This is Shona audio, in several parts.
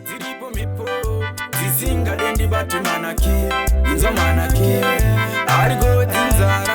dziripo mhepo dzisingade ndibati manake inzwa manake ariko dzinzara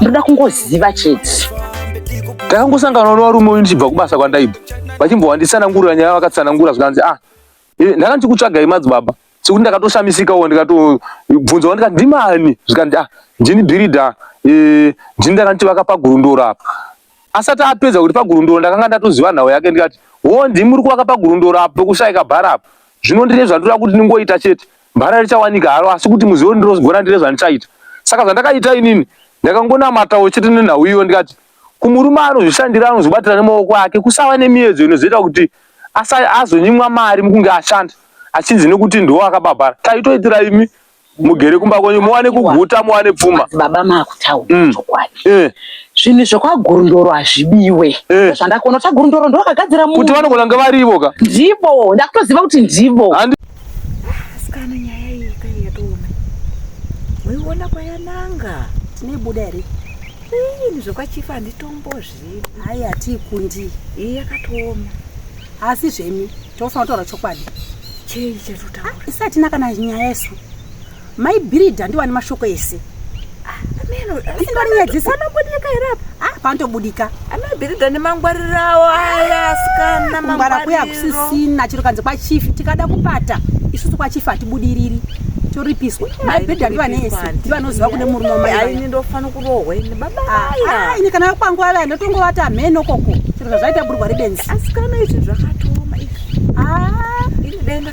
ndoda kungoziva chete ndakangosangana nevarume uyu ndichibva kubasa kwandaibva vachimbowanditsanangurira nyaya vakatsanangura zvikanzi ah eh, ndanga ndichikutsvagai madzibaba sekuti ndakatoshamisikawo ndikatobvunza wa ndikati ndimani zvikanzi ah ndini bhirida eh, ndini ndanga ndichivaka pagurundoro apa asati apedza kuti pagurundoro ndakanga ndatoziva nhau yake ndikati wo ndimi uri kuvaka pagurundoro apo pekushayika bhara apo zvino ndine zvandoda kuti ndingoita chete Mbara richawanika haro asi kuti muzivo ndinozogona ndine zvandichaita. Saka zvandakaita inini ndakangonamatawo chete nenhau iyo ndikati kumurume anozvishandira anozvibatira nemaoko ake kusava nemiedzo inozoita kuti azonyimwa mari mukunge ashanda achinzi nekuti ndiwo akabhabhara taitoitira imi mugere kumba kwenyu muwane kuguta muwane pfuma baba makutaura mm. chokwadi eh. zvinhu zvekwagurundoro hazvibiwe eh. zvandakuona kuti agurundoro ndovakagadzira kuti vanogona ngavarivo ka ndivo ndakutoziva kuti ndivo Asikana nyaya iyi kai yatooma. Muiona kwayananga tineibuda here? Ini zvekwachifa handitombozvivi. Hayi hatiikundi. Iyi yakatooma. Asi zvemi tofanira kutaura chokwadi. Chei chatotaura? Isatina kana nyaya isu. Mai Birida ndiwa ne mashoko ese. Ah, ameno. Ndori nyadzi sana bodika irapa. Ah, panto budika. Amai Birida ne mangwarirawo aya sikana mangwariro. Ngwara kuya kusisina chiro kanze kwa chief tikada kupata. Isusu kwa chief atibudiriri. Toripiswa. Mai Birida ndiwa ne ese. Ndiwa noziva kune murume mai. Ai ni ndofana kurohwa ini baba. Ah, ah ini kana kwangu ava ndotongo vata ameno koko. Chiro zvaita burwa ribenzi. Asikana izvi zvakatoma izvi. Ah, ini denda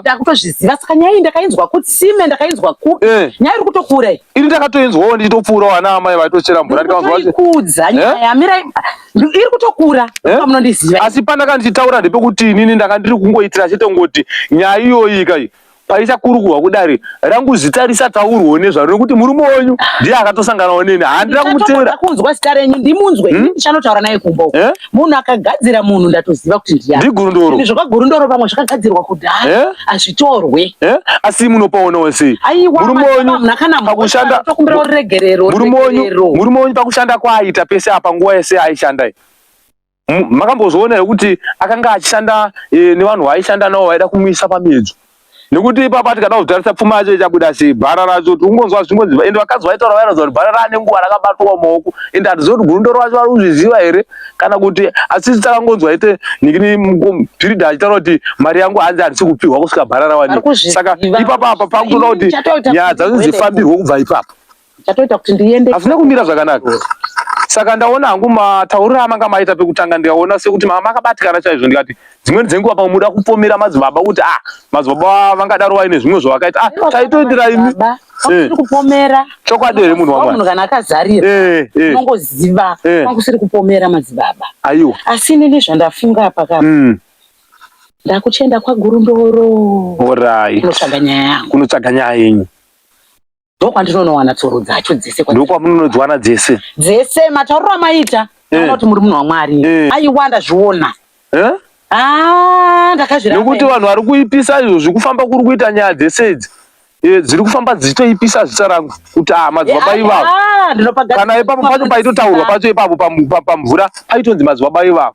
ndakutozviziva saka nyaya iyi ndakainzwa kutsime ndakainzwa ku eh. nyaya iri kutokura iyi ini ndakatoinzwawo ndichitopfuurawo ana amai vaitochera mvura ndikaikudza eh? nyaya yamira iri kutokura eh? munondiziva asi pandaka ndichitaura ndepekuti inini ndanga ndiri kungoitira chete ngoti nyaya iyoyi kai paichakurukurwa kudari rangu zita risataurwo nezvaro nekuti murume wenyu ndiye akatosanganawo neni handina kumuteera kunzwa zita renyu ndimunzwe hmm? ndichanotaura naye kumba uko munhu akagadzira munhu ndatoziva kuti ndiyani ndigurundoro izvo kagurundoro pamwe zvakagadzirwa kudhara eh? hazvitorwe eh? asi munopaona wese murume wenyu pakushanda kwaaita pese apa nguva yese aishanda makambozviona here kuti akanga achishanda eh, nevanhu vaaishanda navo vaida kumuisa pamiedzo nekuti ipapa tikada kuzotarisa pfuma yacho ichabuda sei bhara racho tikungonzwa zvingonzi ende vakadzi vaitaura vairauza kuti bhara raane nguva rakabatwa maoko ende hatizivi kuti gundo racho vari kuzviziva here kana kuti asisi takangonzwa ite nikini pirida achitaura kuti mari yangu hanzi handisi kupihwa kusvika bhara rawanikwa saka ipapa apa pakutoda kuti nyaya dzanzi dzifambirwe kubva ipapa chatoita kuti ndiende hazvina kumira zvakanaka saka ndaona hangu matauriro amanga maita pekutanga ndikaona sekuti mama akabatikana chaizvo ndikati dzimweni dzenguva pamwe muda kupomera madzibaba kuti ah madzibaba vangadaro vaine zvimwe zvavakaita ah taitoitira imi eh. kupomera chokwadi here munhu wamunhu kana akazarira eh, eh. unongoziva kwakusiri kupomera madzibaba aiwa asi inini zvandafunga pakapa mm. ndakuchienda kwagurundoro orai kunotsvaga nyaya yangu kunotsvaga nyaya yenyu ndokwandinonowana tsoro dzacho dzese ndokwamunonodziwana dzese dzese matauriro amaita eh. anoti muri munhu wamwari eh. aiwa ndazviona eh? ah, ndakazvirnekuti vanhu vari kuipisa izvozvi kufamba kuri kuita nyaya dzese idzi dziri kufamba dzichitoipisa zita rangu kuti ah, madzibaba ivavo ah, kana ipapo pacho paitotaurwa pacho ipapo pamvura paitonzi madzibaba ivavo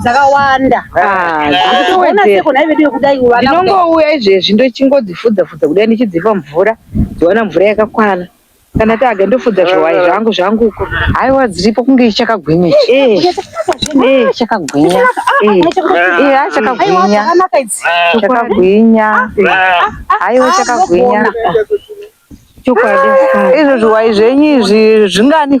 dzakawanda ndinongouya ah, izvezvi ndochingodzifudza fudza kudai ndichidzipa mvura dziwana mvura yakakwana kana tage ndofudza zviwayi eh. zvangu zvangu uko haiwa dziripo kunge ichakagwinya chakagwinya chakagwinya chakagwinya haiwa chakagwinya chokwadi izvo zviwayi zvenyu izvi zvingani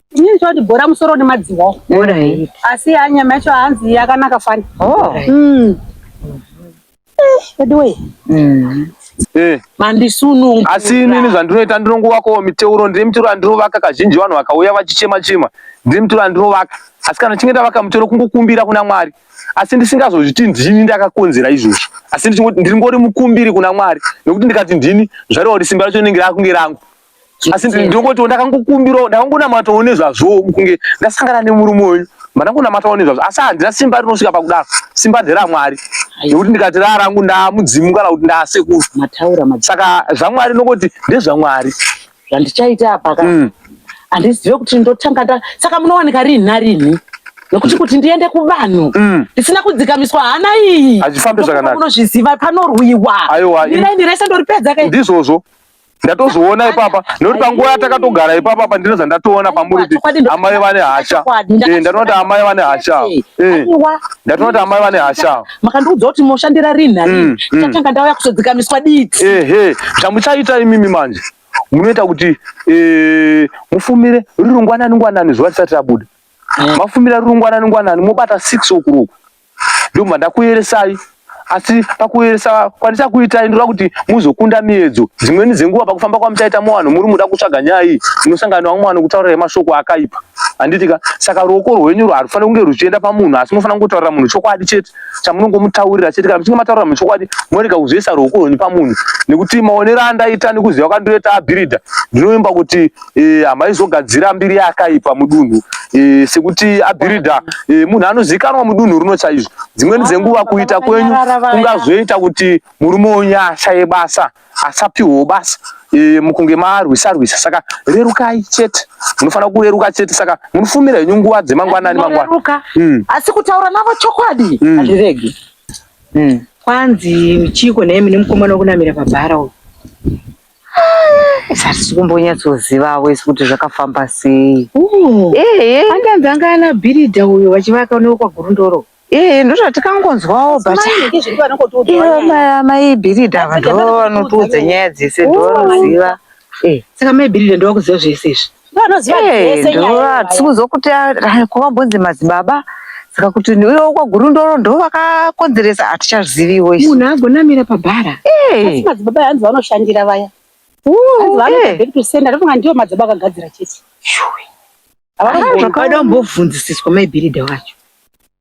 Ini ndoti bhora musoro nemadziwa. Bhora hii. Asi ya nyama yacho hanzi yakanaka fani. Oh. Mm. Veduwe. Mm. Eh. Mandisunungu. Asi nini zvandinoita ndinongovakawo miteuro ndiri miteuro andinovaka kazhinji vanhu vakauya vachichema chema ndiri miteuro andinovaka asi kana chinge ndavaka miteuro kungokumbira kuna Mwari asi ndisingazozviti ndini ndakakonzera izvozvo asi ndiri ngori mukumbiri kuna Mwari nekuti ndikati ndini zvareva kuti simba racho rinenge rakunge rangu asi ndinongotiwo ndakangokumbirawo ndakangonamatawo nezvazvo kunge ndasangana nemurume wenyu mandangonamatawo nezvazvo asi handina simba rinosvika pakudaro simba nderamwari nekuti ndikati rarangu ndamudzimu kana kuti ndasekuru saka zvamwari nokoti ndezvamwari zvandichaita apa ka mm. handizive kuti ndotanga nda saka munowanika rini narini nokuti mm. kuti ndiende kuvanhu mm. ndisina kudzikamiswa hana iyi hazvifambi zvakanaka unozviziva panorwiwa aiwa ini rese ndoripedza ka ndizvozvo ndatozoona ipapa nekuti panguva yatakatogara ipapa apa ndinoza ndatoona pamuri kuti amai vane hasha eh, ndatoona kuti amai vane hasha eh, ndatoona kuti amai vane hasha makandiudza kuti moshandira rini nai mm, mm. tatanga ndauya kuzodzikamiswa diti ehe zvamuchaita imimi manje munoita kuti eh, mufumire riri ngwanani ngwanani zuva risati rabuda mafumira riri ngwanani ngwanani mobata six o'clock ndobva ndakuyeresai asi pakuyeresa kwandichakuitai ndinoda kuti muzokunda miedzo dzimweni dzenguva pakufamba kwamuchaita muvanhu muri muda kutsvaga nyaya iyi munosangana vamwe vanhu kutaurira mashoko akaipa handitika saka ruoko rwenyu rwarufanira kunge ruchienda pamunhu asi munofanira kungotaurira munhu chokwadi chete chamunongomutaurira chete kana muchinge mataurira munhu chokwadi morega kuzoisa ruoko rwenyu pamunhu nekuti maonero andaita nekuziva kwandiroita abhiridha ndinoimba kuti e, hamaizogadzira mbiri yakaipa mudunhu e, sekuti abhiridha e, munhu anozivikanwa mudunhu runo chaizvo dzimweni dzenguva kuita kwenyu kungazoita kuti murume wenyu ashaye basa asapiwewo basa e, mukunge marwisa rwisa saka rerukai chete munofanira kureruka chete saka munofumira henyu nguva dzemangwanani mangwana mm. asi kutaura navo chokwadi mm. hazviregi mm. kwanzi chiko nemi nemukomana wekunamira pabhara uyu hatisi kumbonyatsozivavo isi kuti zvakafamba sei andanzi anga ana bhiridha uyo vachivaka unewo kwagurundoro ee ndozvatikangonzwawo butmai bhiridha vanhu vanotiudza nyaya dzese ndovanoziva saka mai bhiridha ndovakuziva zvese izvi vanoziva eh, dzese nyaya tikuzokuti ah, kuvambonzi madzibaba saka kuti iwe kwagurundoro ndo vakakonzeresa hatichaziviwo isu munhu agonamira pabhara eh. asi madzibaba hanzi vanoshandira vaya vanoaekusendatofunga ndiwo madzibaba akagadzira chete zvakadombobvunzisiswa maibhiridha wacho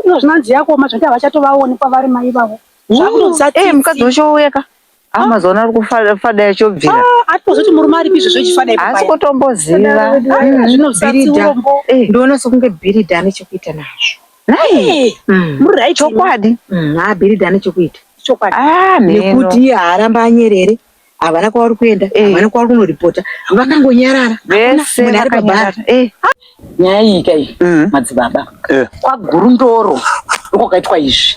Ndizvo zvinanzi yakoma zvekuti havachatovaoni kwavari mai vavo. Zvakutotsa Eh, mukadzi tsitsi. uchouya ka ah mazuva ari kufada yachobvira Ah, atozoti murume aripi izvo zvechifada ipo haasi paya. kutomboziva Mm. Zvinobvisa Bhiridha. tsiurombo. Eh, ndoona sokunge bhiridha ane chekuita nazvo nai Eh, Mm. muri right imi. chokwadi Mm, ah bhiridha ane chekuita Chokwadi. ah mheno nekuti iye haaramba anyerere havana kwavari kuenda eh. havana kwavari kunoripota vakangonyarara vese vakanyarara eh. nyaya iyi kai mm. madzibaba eh. kwagurundoro ndiko kaitwa izvi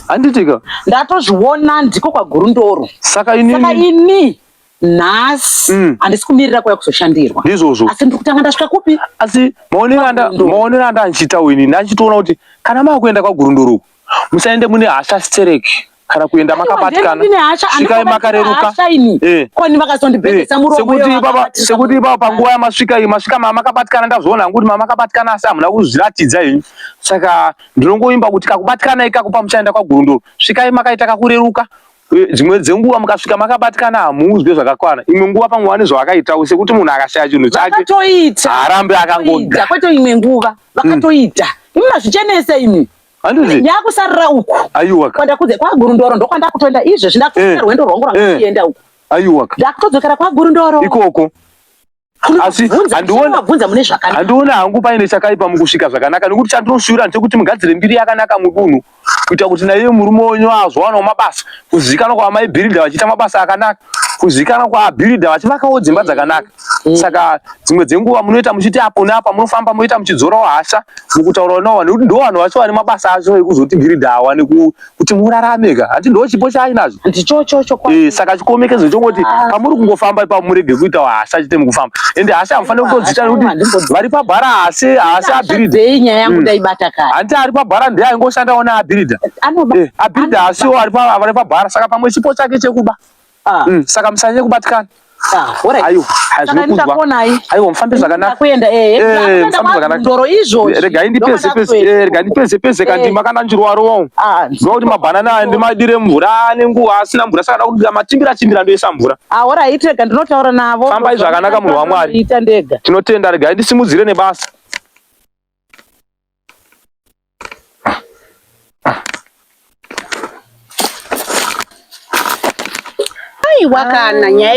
handitika ndatozviona ndiko kwagurundoro saka ini nhasi mm. handisi kumirira kwaya kuzoshandirwa ndizvozvo asi ndiri kutanga ndasvika kupi asi maonero andandichitawo ini ndandichitoona kuti kana maakuenda kwagurundoro uku musaende mune hasha stereki kana kuenda makabatikana svikai makareruka eh. eh. sekuti ipapa panguva yamasvika iyi masvika mamakabatikana ndazviona hangu kuti mamakabatikana asi hamuna kuzviratidza henyu saka ndinongoimba kuti kakubatikana ikako pamuchaenda kwagurundoro svikai makaita kakureruka eh, dzimwe dzenguva mukasvika makabatikana hamuuzwe zvakakwana imwe nguva pamwe vane zvavakaitawo sekuti munhu akashaya chinhu chake arambe akangoda kwete imwe nguva vakatoita mm. imi mazvichenese imi handiti nyakusarira uku aiwa kwandakudze kwagurundoro ndokwandakutoenda izvezvi ndakutoenda eh, rwendo rwangu rwandakuenda eh. uku aiwa ndakutodzokera kwagurundoro ikoko asi handiwonabvunza mune zvakanaka handiwona hangu paine chakaipa mukusvika zvakanaka nekuti chandinoshuvira ndechekuti mugadzire mbiri yakanaka mudunhu kuita kuti naiye murume wenyu azowanawo mabasa kuzivikanwa kwaamaibhiridha vachiita mabasa akanaka kuzivikanwa kwaabhiridha vachivakawo dzimba dzakanaka mm. saka dzimwe dzenguva munoita muchiti apo neapa munofamba moita muchidzorawo hasha mukutaurawo navo vanhu nekuti ndo vanhu vacho vane mabasa acho ekuzotibhiridhawa nekuti murarame ka hati ndo chipo chaainazvo eh, saka chikomekezo chongoti ah. pamuri kungofamba ipapo murege kuita hasha chete mukufamba ende hasha hamufanire kutodzita nekuti vari pabhara hasi hasi abhiridhahanti mm. ari pabhara ndiye aingoshandawo neabhiridha eh, abhiridha hasiwo ari pabhara saka pamwe chipo chake chekuba Ah. Mm, saka musanyanye kubatikana. Ah, Ayo, hazvikudzwa. Ayo, mfambe zvakanaka. Kuenda eh. Eh, mfambe zvakanaka. Ndoro izvo. Eh, rega indi pese pese. Eh, rega indi pese pese eh. kandi makana njirwa rowo. Ah. Zvo kuti mabanana andi madire mvura ane nguwa asina mvura saka ndakudira matimbira timbira ndoisa mvura. Ah, ora ite kandi ndinotaura navo. Famba izvo zvakanaka munhu waMwari. Ita ndega. Tinotenda rega indi simudzire nebasa. aiwa kana ah, nyaya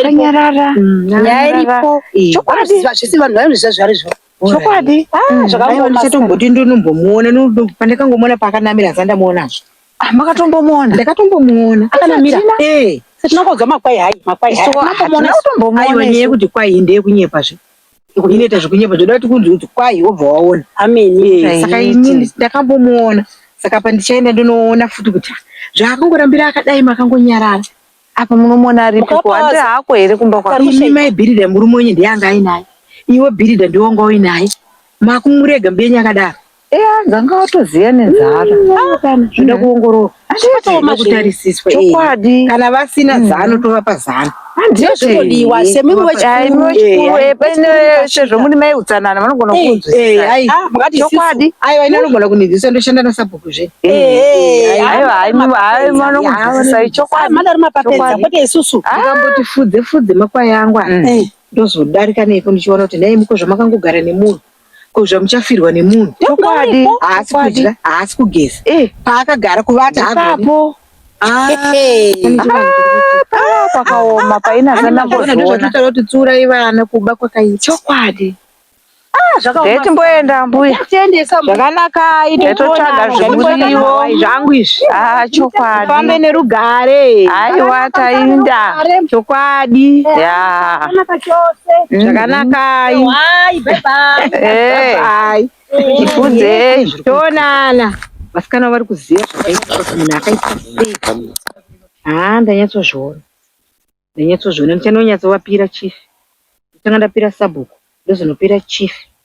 iripo mm, chokwadi zvisi vanhu vainozviziva zvari zvo chokwadi ah, mm, zvakaaichatomboti ndonombomuona pandakangomuona paakanamira zandamuonazvo ah, makatombomuona ndakatombomuona akanamira eh. tinokonzwa makwai hai makwai hai utombomuona kuti kwai ndeye kunyepa zve inoita zvekunyepa zvoda kuti kunzi kuti kwai wobva waona amene saka ini ndakambomuona saka pandichaenda ndinoona futi kuti ah, zvaakangorambira akadai makangonyarara apa munomuona aripiko hande hako here kumba kwaimi maibhirida murume wenyu ndiye anga ainaye iwe bhirida ndiwanga uinaye makumurega mbenyu akadaro Eya dzanga watoziva nenzara zvinoda kuongororwa zvinoda kutarisiswa chokwadi kana vasina mm. zano tovapa zano ndizvotodiwa semimiwachikuruepeshe zvomuri mai utsanana vanogona eh, kukunzwisisaachokwadi eh, ah, aiwa ini anogona kunizisa ndoshanda nasabhuku zve eh, aiwa haimanokunzwisisai chokwadimandari mapapedza kwete isusu ah. ndikamboti fudze fudze makwai angu mm. ndozodarika neiko ndichiona kuti nhai muko zvamakangogara nemunhu ko zvamuchafirwa nemunhu chokwadi haasi kudya haasi kugeza eh. paakagara kuvata apo ah. ah, pakaoma paina zvanambozoona kuti tsiurai vana kuba kwakaita chokwadi zvakaoma mboenda mbuya tiendesa zvakanakai totsvaga zvimuriwo zvangu izvi ah chokwadi fambe nerugare aiwa tainda chokwadi ya zvakanakai eh, tifunzei toonana vasikana vari kuziva zvakaita kuti munhu akaita sei haa ndanyatsozviona ndanyatsozviona ndichanonyatsovapira chief ndichange ndapira sabhuku ndozonopira chief